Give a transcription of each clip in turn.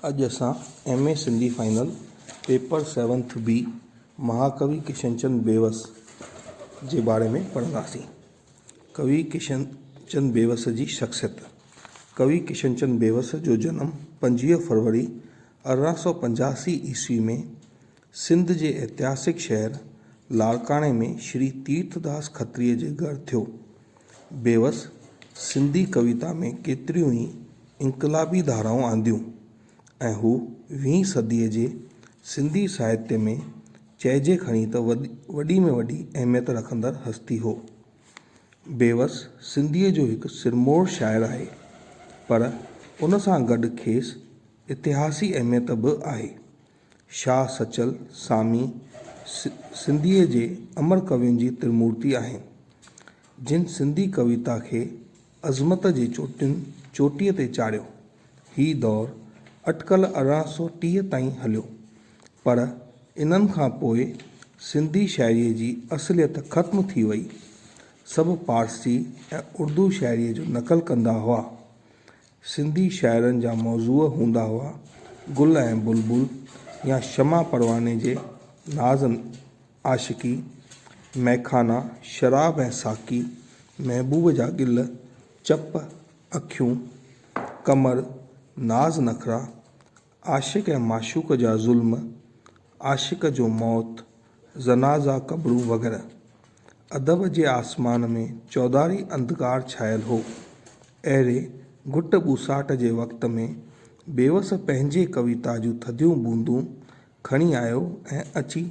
اڄ اسان M A Sindhi final paper seventh B مهاڪوي ڪشن چند بيوس جي باري ۾ پڙهنداسين. ڪوي ڪشن چند بيوس جي شخصيت، ڪوي ڪشن چند بيوس جو جنم پنجويهه فروري ارڙهن سؤ پنجاسي عيسوي ۾ سنڌ جي اتهاسڪ شهر لاڙڪاڻي ۾ شري تيرٿ داس کتريء جي گهر ٿيو. بيوس سنڌي ڪويتا ۾ ڪيتريون ئي انقلابي ڌارائون آنديون ۽ هو ويهين صديء جي سنڌي ساهتيه ۾ چئجي کڻي ته وڏي ۾ وڏي اهميت رکندڙ هستي هو. بيوس سنڌيء جو هڪ سرموڙ شاعر آهي، پر ان سان گڏ کيس اتهاسي اهميت به آهي. شاهه سچل سامي سنڌيء جي امر ڪوين جي ترمورتي آهن، جن سنڌي ڪويتا کي عظمت جي چوٽين چوٽيء تي چاڙهيو. هي دور اٽڪل ارڙهن سؤ ٽيهه تائين هليو، پر انهن کان پوء سنڌي شاعريء جي اصليت ختم ٿي ويئي. سڀ پارسي ۽ اردو شاعريء جو نقل ڪندا هئا. سنڌي شاعرن جا موضوع هوندا هئا گل ۽ بلبل يا شمع پرواني جي ناز عاشقي، مئخانا، شراب ۽ ساقي، محبوب جا گل، چپ، اکيون، قمر، ناز نخرا، عاشق ۽ معشوق جا ظلم، عاشق جو موت، جنازا قبرون وغيره. ادب جي آسمان ۾ چوڌاري انڌڪار ڇانيل هو. اهڙي گهٽ ٻوساٽ جي وقت ۾ بيوس پنهنجي ڪويتا جون ٿڌيون بوندون کڻي آيو ۽ اچي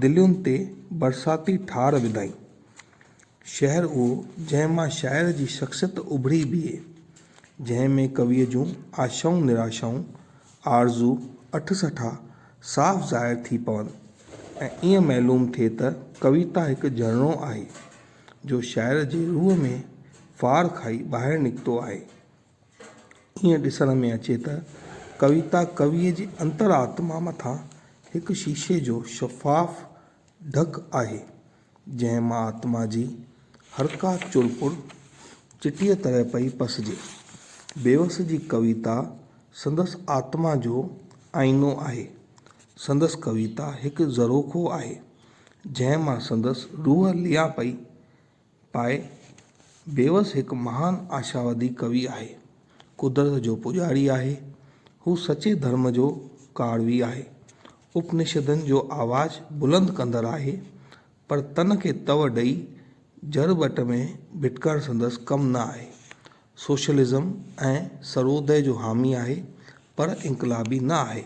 دلين تي برساتي ٺار وڌائين. شعر اهو، جنهن مان شاعر جي شخصيت اڀري بيهي، جنهن ۾ ڪويء جون آشائون نراشائون، آرزو اٺ سٺا صاف ظاهر ٿي پون ۽ ائين معلوم ٿئي ته ڪويتا هڪ جهرڻو آهي، جو شاعر جي روح ۾ ڦار کائي ٻاهر نڪتو آهي. ائين ڏسڻ ۾ اچي ته ڪويتا ڪويء جي انتر آتما مٿان هڪ شيشي جو شفاف ڍڪ آهي، جنهن مان آتما جي هرڪا چرپر چٽيء طرح پئي پسجي. بيوس جي ڪويتا سندس آتما جو آئينو آهي. سندس ڪويتا هڪ زروخو آهي، جنهن مان سندس روح ليئان پئي پائي. بيوس هڪ مهان آشاوادي ڪوي آهي. قدرت جو پوڄاري آهي. هو سچي ڌرم جو ڪاروي آهي. اپنشدن جو آواز بلند ڪندڙ آهي، پر تن کي تئو ڏئي جڙ ٻٽ ۾ ڀٽڪڻ سندس ڪم نه آهي. سوشلزم ۽ سروديه جو حامي آهي، پر انقلابي نه آهي.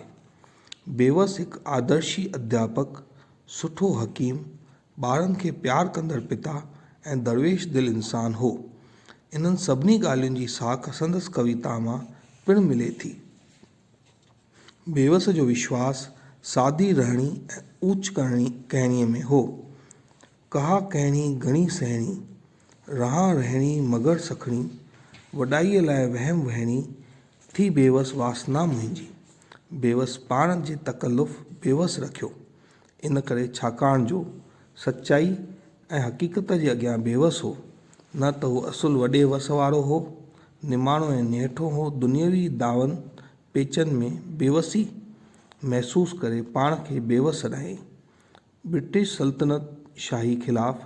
بيوس هڪ آدرشي ادياپڪ، سٺو حڪيم، ٻارن کي پيار ڪندڙ پتا ۽ درويش دل انسان هو. انهن سڀني ڳالهين جي ساک سندس ڪويتا مان پڻ ملي ٿي. بيوس جو وشواس سادي رهڻي ۽ اوچ ڪرڻي ڪهڻي ۾ هو. ڪها ڪهڻي گهڻي سهڻي، رهان رهڻي مگر سکڻي، وڏائيء لاء وهم وهڻي، ٿي بيوس واسنا منهنجي. بيوس پاڻ جي تڪلف بيوس رکيو، ان ڪري ڇاڪاڻ جو سچائي ۽ حقيقت جي اڳيان بيوس هو، نه ته هو اصل وڏي وس وارو هو، نماڻو ۽ نهٺو هو، دنيوي دعون پيچن ۾ بيوسي محسوس ڪري پاڻ کي بيوس سڏائي، برٽش سلطنت شاهي خلاف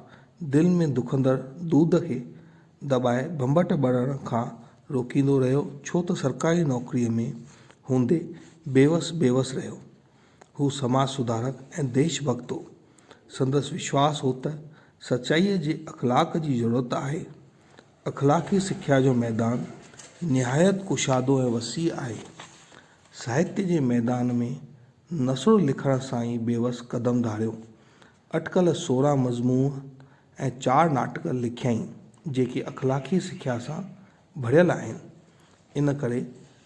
دل ۾ دکندڙ دود کي دٻائي ڀنڀٽ ٻرڻ کان روڪيندو رهيو ڇو ته سرڪاري نوڪريء ۾ هوندي بيوس بيوس رهيو. هو سماج سڌارڪ ۽ ديش ڀڳت هو. سندس وشواس هو ته سچائيء جي اخلاق جي ضرورت آهي. اخلاقي سکيا جو ميدان نهايت ڪشادو ۽ وسيع آهي. ساهتيه جي ميدان ۾ نثر لکڻ سان ئي بيوس قدم ڌاريو. اٽڪل سورهن مضمون ۽ چار ناٽڪ لکيائين، جيڪي اخلاقي سکيا سان ڀريل آهن. ان ڪري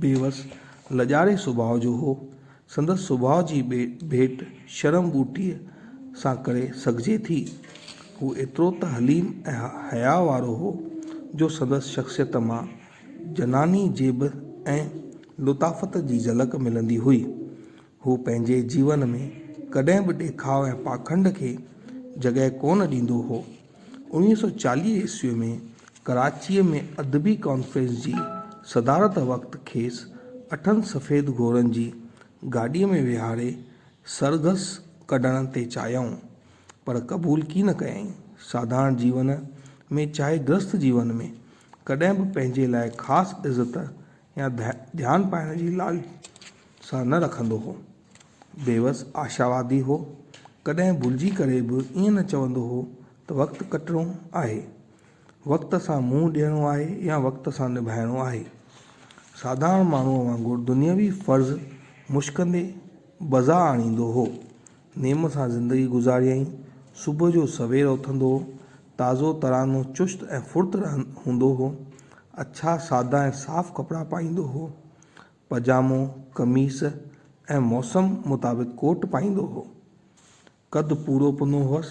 بيوس لڄاڙي سڀاء جو هو. سندس سڀاء جي ڀيٽ شرم ٻوٽي سان ڪري سگهجي ٿي. هو ايترو ته حليم ۽ حياء وارو هو، جو سندس شخصيت مان جناني جيب ۽ لطافت جي جهلڪ ملندي هئي. هو پنهنجي جيون ۾ ڪڏهن به ڏيکاء ۽ پاکنڊ کي جڳهه ڪونه ڏيندو هو. انويهه سؤ چاليهه عيسوي ۾ ڪراچيء ۾ ادبي ڪانفرنس جي صدارت وقت کيس اٺن سفيد گهوڙن جي گاڏيء ۾ ويهاري سرگس ڪڍڻ تي چاهيائون، پر قبول ڪي نه ڪيائين. ساڌارڻ جيون ۾ چاهي گرهسٿ جيون ۾، ڪڏهن به پنهنجي لاء خاص عزت يا ڌيان پائڻ جي لالچ نه رکندو هو. بيوس آشاوادي هو. ڪڏهن ڀلجي ڪري به ائين نه چوندو هو ته وقت ڪٽڻو آهي. وقت سان منهن ڏيڻو آهي يا وقت سان نڀائڻو آهي. ساڌارڻ ماڻهوء وانگر دنيوي فرض مشڪندي بجا آڻيندو هو. نيم سان زندگي گذاريائين. صبح جو سوير اٿندو هو. تازو ترانو چست ۽ ڦرت هوندو هو. اڇا سادا ۽ صاف ڪپڙا پائيندو هو. پجامو، قميص ۽ موسم مطابق ڪوٽ پائيندو هو. قد پورو پنو هوس.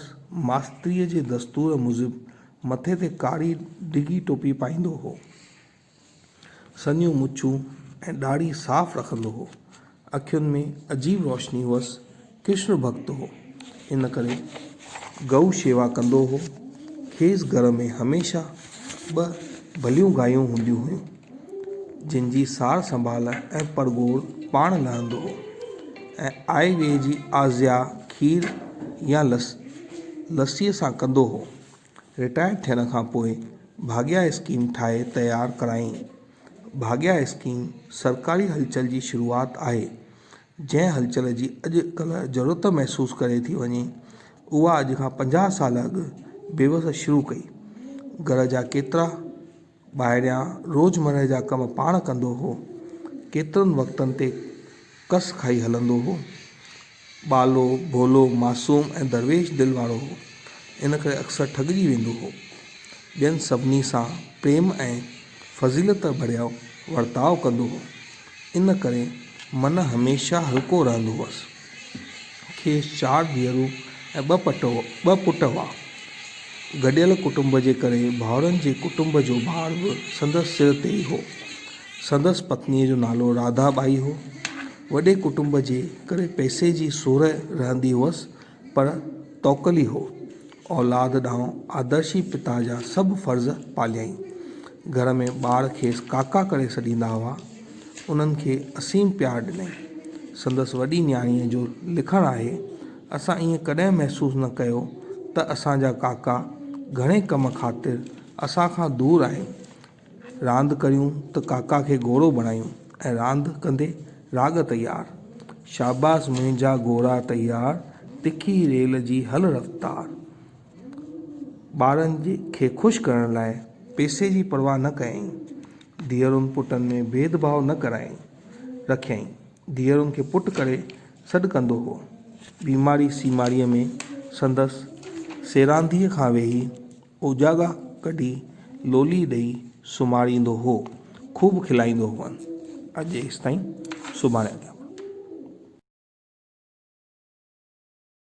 ماستريء جي دستور موجب مٿي تي ڪاري ڊگهي ٽوپي پائيندو هو. سنهيون مڇون ۽ ڏاڙهي صاف رکندو هو. اکين ۾ عجيب روشني هئس. ڪرشن ڀڳت هو. ان ڪري گئو شيوا ڪندو هو. کيس گهر ۾ هميشه ٻه ڀليون گايون هونديون هيون. جن جي سار سنڀال ۽ پرگهور پاڻ لهندو هو ۽ آء ويء جي آزيان کير يا لسيء سان ڪندو هو. رٽائر ٿيڻ کان پوء ڀاڳيا اسڪيم ٺاهي تيار ڪرايائين. ڀاڳيا اسڪيم سرڪاري هلچل جي شروعات آهي، جنهن هلچل جي اڄ ڪلهه ضرورت محسوس ڪري ٿي وڃي، اها اڄ کان پنجاهه سال اڳ بيوس شروع ڪئي. گهر جا ڪيترا. ٻاهريان روزمره جا ڪم پاڻ ڪندو هو. ڪيترن وقتن تي ڪس کائي هلندو هو. ٻالو، ڀولو، معصوم ۽ درويش دل وارو هو. ان ڪري اڪثر ٺڳجي ويندو هو. ٻين سڀني سان پريم ۽ فضيلت ڀريو ورتاء ڪندو هو. ان ڪري من هميشه هلڪو رهندو هوس. کيس چار ڌيئرون ۽ ٻه پٽ هئا. گڏيل ڪٽنب جي ڪري ڀائرن جي ڪٽنب جو بار به سندس سر تي ئي هو. سندس پتنيء جو نالو راڌا ٻائي هو. وڏي ڪٽنب جي ڪري پئسي جي سورهه رهندي هئس پر توڪلي هو. اولاد ڏانهن آدرشي پتا جا سڀ فرض پاليائين. گهر ۾ ٻار کيس ڪاڪا ڪري سڏيندا هئا. انهن کي اسيم پيار ڏنائين. سندس وڏي نياڻيء جو لکڻ آهي، اسان ائين ڪڏهن محسوس نه ڪيو ته اسان جا ڪاڪا گهڻي ڪم خاطر اسان کان دور آهن. راند ڪريون ته ڪاڪا کي گهوڙو بڻايون ۽ راند ڪندي راڳ تيار. شاباس منهنجا گهوڙا تيار، تکي ريل جي هل رفتار. ٻارن کي خوش ڪرڻ لاء پئسي جي پرواهه نه ڪيائين. ڌيئرن پٽن ۾ ڀيد ڀاء نه ڪرائين رکيائين. ڌيئرن کي پٽ ڪري سڏ ڪندو هو. بيماري سيماريء ۾ سندس سيرانديء کان ويهي اوجاڳا ڪڍي لولي ڏئي سمهاريندو هو. خوب کلائيندو هئن. اڄ ايستائين سڀاڻي اڳيان.